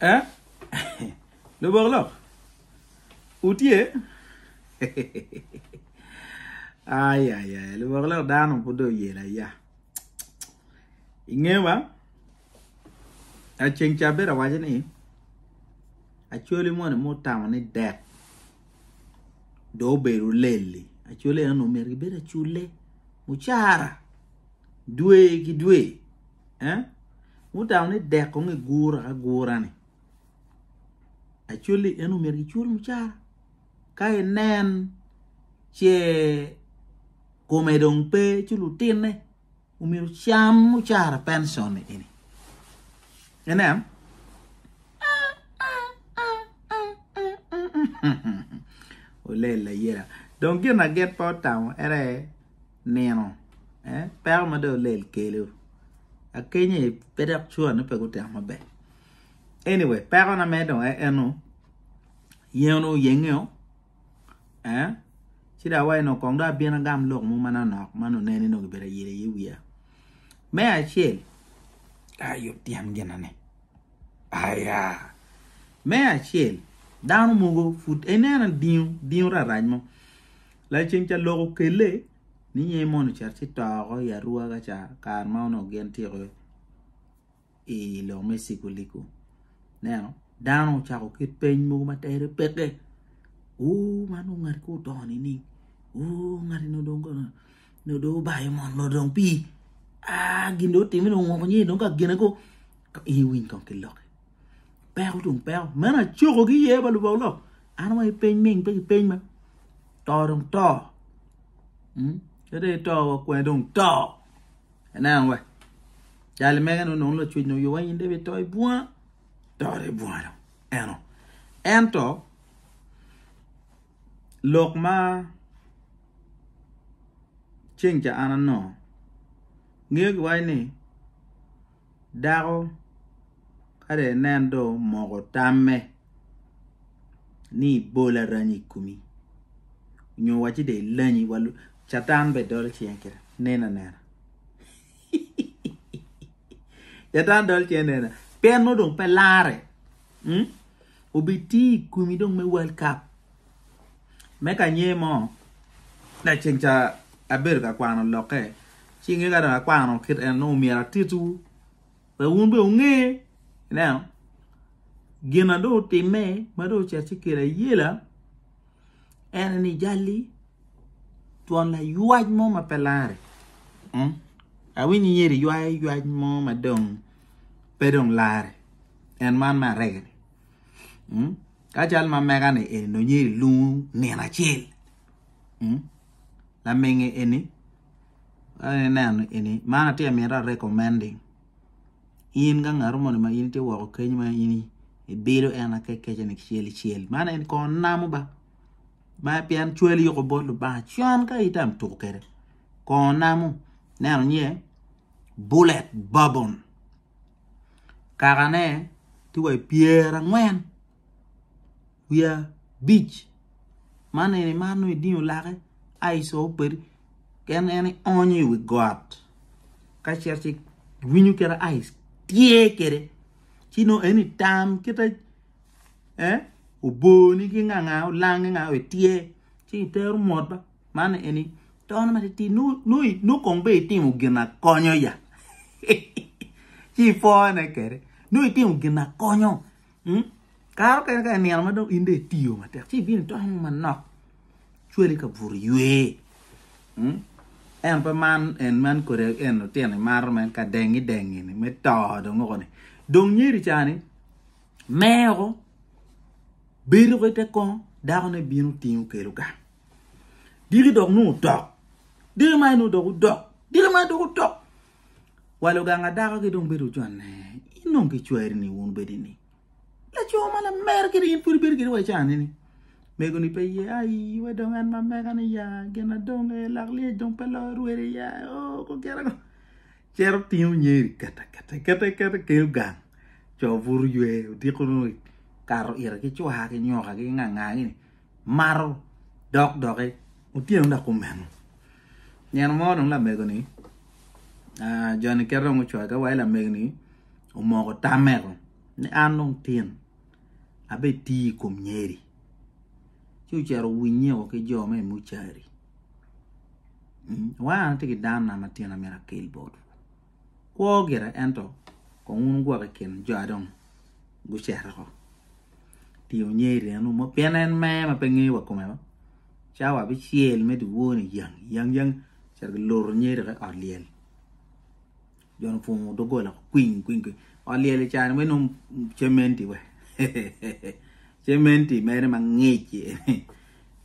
Eh? Lubok lok? Wutye? Ay, ay, ay, lubok lok dano pud oyela ya. Inge ba? Aceng ca bedo awaco ni, acwali moni mo tamo ni dek do obedo leli. Acwali eno omyero gibed acule, mucara. Dwe ki dwe, eh? Wutamo ni dek kong igura agura-ni. Actually, en omyero gicul mucara. Ka inen ce kome dong pe ci lutinne omyero cam mucara pension eni. Inen? Olel ayela. Dong gin na gin pe otamo ere nino eh peko ma dong olel kelu akenyo eh pe dok cua ni pe gutemo maber anyway peko na mere dong en eno yen onu yengeo eh ci dong awaci dong kong dong abino agam lok mo manonok ma nongo ineno ni nongo gibedo ayel aye i wiya me acel ah yub tyen gina ni aya me acel dano mogo pud ineno dingo dingo rarac mo Laceng ca lok okelle ni nyen mono ocit ci to oko i Arua ca kare ma onongo gin tye ko i lok me ciguligu. Neno, dano ocako kit peny mogo ma tere peke. Uu, man dong ngati kong oto nining? Uu, ngati no dong kono no dong obayo mon no dong pii. Ah, gin dong otime dong ongoko nyer dong ka gine kong. I winy kong ki lokke. peko tung peko meno acoko ki ye balubo olok an wa ipeny ming pe ki peny ma to dong to hmm? kede ito wa kwe dong to eneno wa jali mege no nong lacwec no yowa in debe to ibunga to de ibunga dong eno ento lok ma ceng ca an anongo ngeyo giwaci ni dako ka dong inen dong omoko tamme ni ibol aranya i komi nyo wacci dong ilanyi wa lubbe Catan bene dolo cinge kene nen anena Catan dolo cinge nen anena pien nongo dong pe larre obiti i komi dong me World Cup. me kanye mo laceng ca abedo ka kwano lokke ci inge ka dong akwano kit en nongo myero atitwu wek wun bene wunge ineno gin ma dong otimme ma dong ocito ci kelo ayela en ni jali twon laywac mo ma pe lare hmm? awinyo nyeri ywayo ywac mo ma dong pe dong lare en man me arega-ni Ka cal ma mega-ni eni nonye i lung nino acel lamege eni ineno eni man atye ka miti arekomendi in ka ngat moni ma in itye woko keny ma in ibido en akekecani kicel kicel man eni kong namo ba ma pien cwali yuku bot Lubanga con ka ita ma tuku kede kong namo ineno niye bullet bourbon kakane tye wa i pyerangwen wiye abic man eni mar nongo idingo lake ci icoyo kwede pien en ionyo i wi got ka cito ci winyo kite ci ityer kwede ci nongo en itam kite oboni ki ngangaa olangi ngangaa ityer ci itero mot ba Man eni tono matitidi nongo kong be itimo gin akonyo ya ci ipone kede nongo itimo gin akonyo hmm? karo kene ka inino ma dong in dong itiyo matek ci ibino itono mo manok cwali ka bur ywe hmm? en pe man en man kode en lutino imaro men ka dengi dengi ni me to dong oko ni dong nyeri cani meko bedo ko ite kongo dako ne bino tingo kelo gang Diki dok nung otok. Diki ma nung dok odok. Diki ma dok otok. Wa luganga dako ki dong bedo oconne. In nung ki cweri ni wun bedi ni. Laco ma la mer kiri in pudi bedi kiri wa icane ni. Mego ni pe ye ayi we dong an ma meka ni ya gina dong e lak liye dong pe lo rwere ya o oh, ko kera ko. Cero tingo nyeri kata kata kata kata keo gang. Coo buru ywe odiko nung kato ira ki cwa ki nyoka ki nganga gini. mato dok doki otyeno dok omeno nyen mo dong lamego ni joni kit dong ocwake wa lamego ni omoko tame dong ni an dong tin abe ti i kom nyeri ci ocito owinye o ki jo me mucari wa an atye ki dano na matino amyero akel botwu. Kwo gire ento kong wun wugwok i kin jo a dong gucito oko. Ti wunye i ryenu mo, pien en mer ma pe ngeyo wa kome wa, cawa abicel me dyewor-ni yang yang yang ocito ki loro nyer dok i ot lyel. Jo-ni opwongo doggola woko kwiny kwiny kwiny. Ot lyel i caro-ni weny nongo cementi wa. cementi mere mangic ni.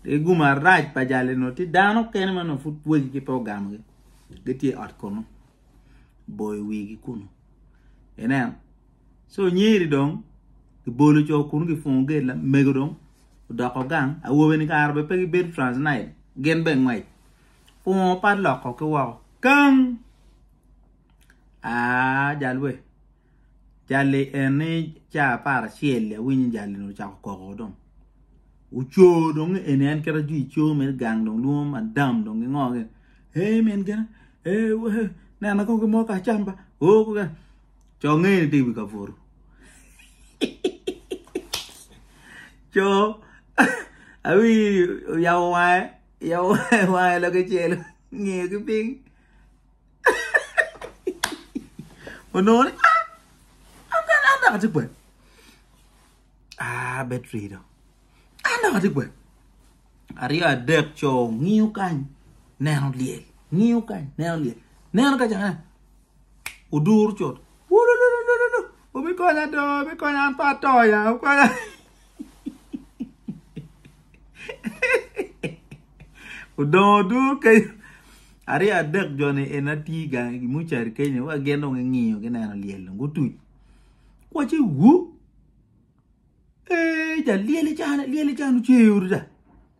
Ti gum arac pa jali nongo ti dano kene ma nongo pud wegi ki pe ogamo gi. gitye i ot kunu boyo wigi kunu ineno so nyeri dong gibolo co kunu gipungo gate lamego dong odoko gang awobe ni kare bene pe gibedo trans night gin bene ngwec pungo padlock-ko ki woko kang aa jalwe. Jali eni caa apar acel awinyo jali ni ocako koko dong oco dong eni en kit ma jwi co mere gang dong lwongo madam dong ki ngo kene ee min gin ee wee nena kong ki mo ka acam ba oo kong kene co nge ni tye i wi kabuto co awinyo oyabo wange wange loke celu nge ki piny. onongo ni an dok atye kwede aa betri dong an dok atye kwede aryo adek co ngiyo kany neno lyel ngiyo kany neno lyel neno ka cakane oduro cut wulululu obikonya do obikonya an pe atoya Odongo duru kenyo aryo adek joni en atye gang i mucari kenyo wa gin dong gingiyo gineno lyel dong gutuc waci wu ee ja lyel ican lyel ican oceo da.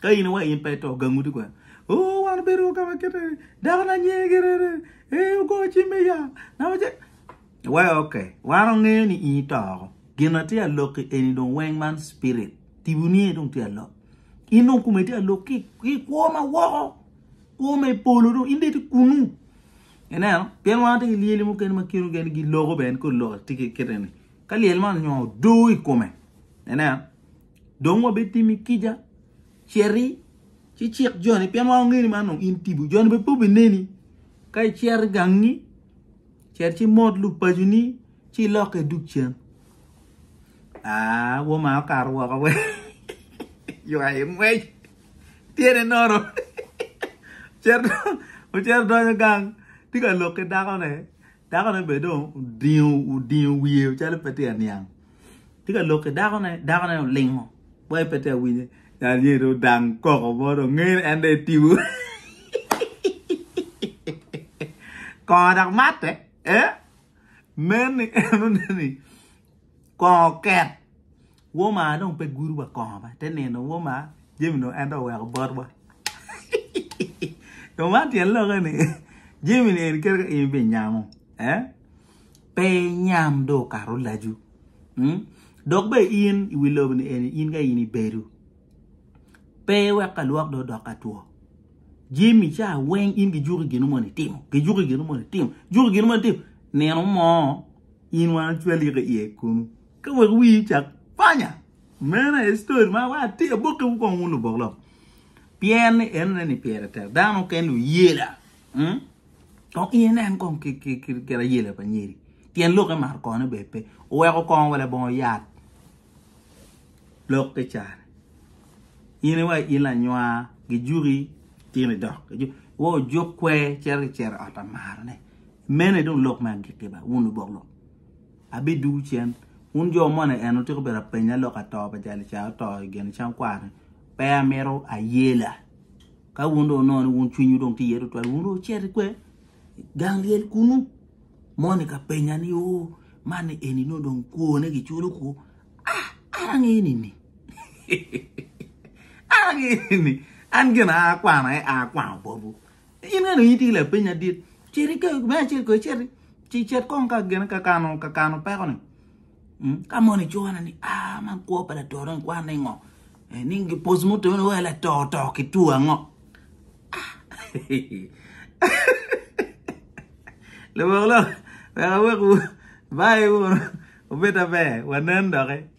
Ka in iwaco in pe ito, gang udi kwena. Oo, wan obedo wa ka ma kite ni, dako na nyinge Gerere, ee, ogo cim me ya, na mace. Iwaco, ok, wan ongeyo ni in ito oko. Gin na tye alokki eni dong weng man spirit, tibu ni dong tye alok. In dong kome tye alok ki ki kwo ma woko, kwo me polo dong in dong iti kunu. Ineno, pien wan watye ki lyeli mukene ma kino geni giloko bene kor lok tye ki kite ni. Ka lyel man onyo odoo i kome, ineno, Dong wabitimi kica, citi, ci cik joni, pien wan wangeyo ni man dong in tipo. Joni bene pe obineni. Ka icito i gangi, cit ci imot lub paconi, ci ilokke idug cen. Aa, woma okato woko we. Ywayo ngwec. Tyene nono. Cito, ocito donyo gang, tye ka lok ki dakone. Dakone bene dong odingo, odingo wiye calo pe tye ka niang. Tye ka lok ki dako ne, dako ne olingo. Boy pe te awinye. Dal nye do dang koko mo do ngene en de tibu. Kongo dak matte. Eh? Men ni en oneni kongo ket. Woma dong pe gudu wa kongo ba. Te nino woma Jimmy no en do weko bot wa. Yo man tyen loke ni Jimmy ni en kere ka in bi nyamo. Eh? pe nyam dong okato lacu. Hmm? Dok be in i wi lobo ni eni in ka in ibedo. Pe wek ka lwok do dok ka two. Jim i ca weng in gi juki gino moni timo. Gi juki gino moni timo. Juki gino moni timo. Nino mo in wan cwali ka iye kunu. Ka wek wi cak panya. Mena e story ma wa ti aboke wu kong wu lubok lok. Pien ni en ne ni pire tek. Dano ken lu yela. Hmm? Dok in inen kong kit ayela pa nyeri, tyen lokke mar kone bene pe, oweko kongo wa labongo yat lokke cane. In iwa in lanywa gijuki tino idok gijuki, iwa ojuk kwer cito ki cero i ot amarane. Mene dong lok me agikki ba, wun lubok lok. Abiduwu cen, wun jo moni en otyeko bedo apenya lok ato pa Jalica oto i Genicang kwaro-ni, pe amito ayela. Ka wun dong wunongo ni wun cwinywu dong tye iye tutwal, wun dong wucit ikwe? I gang lyel kunnu. Moni ka penya ni, o, man ni eni nongo dong kwone giculo kwo? Ah, an angeyo nini? an angeyo nini? An gin a akwano aye a akwano botwu. In ka dong in tye ki lapeny adit, cit ike, me acel ko icit, ci cet kong ka gin ka kano, ka kano pekoni. Ka mon icona ni ah man kwo pa lator en kwan ni ngo? Eh, ni gipos mo to wa lator to ki tu ango? Ah. Lebok lo, wek awek wu, bye wu, obed aber, wanen doki.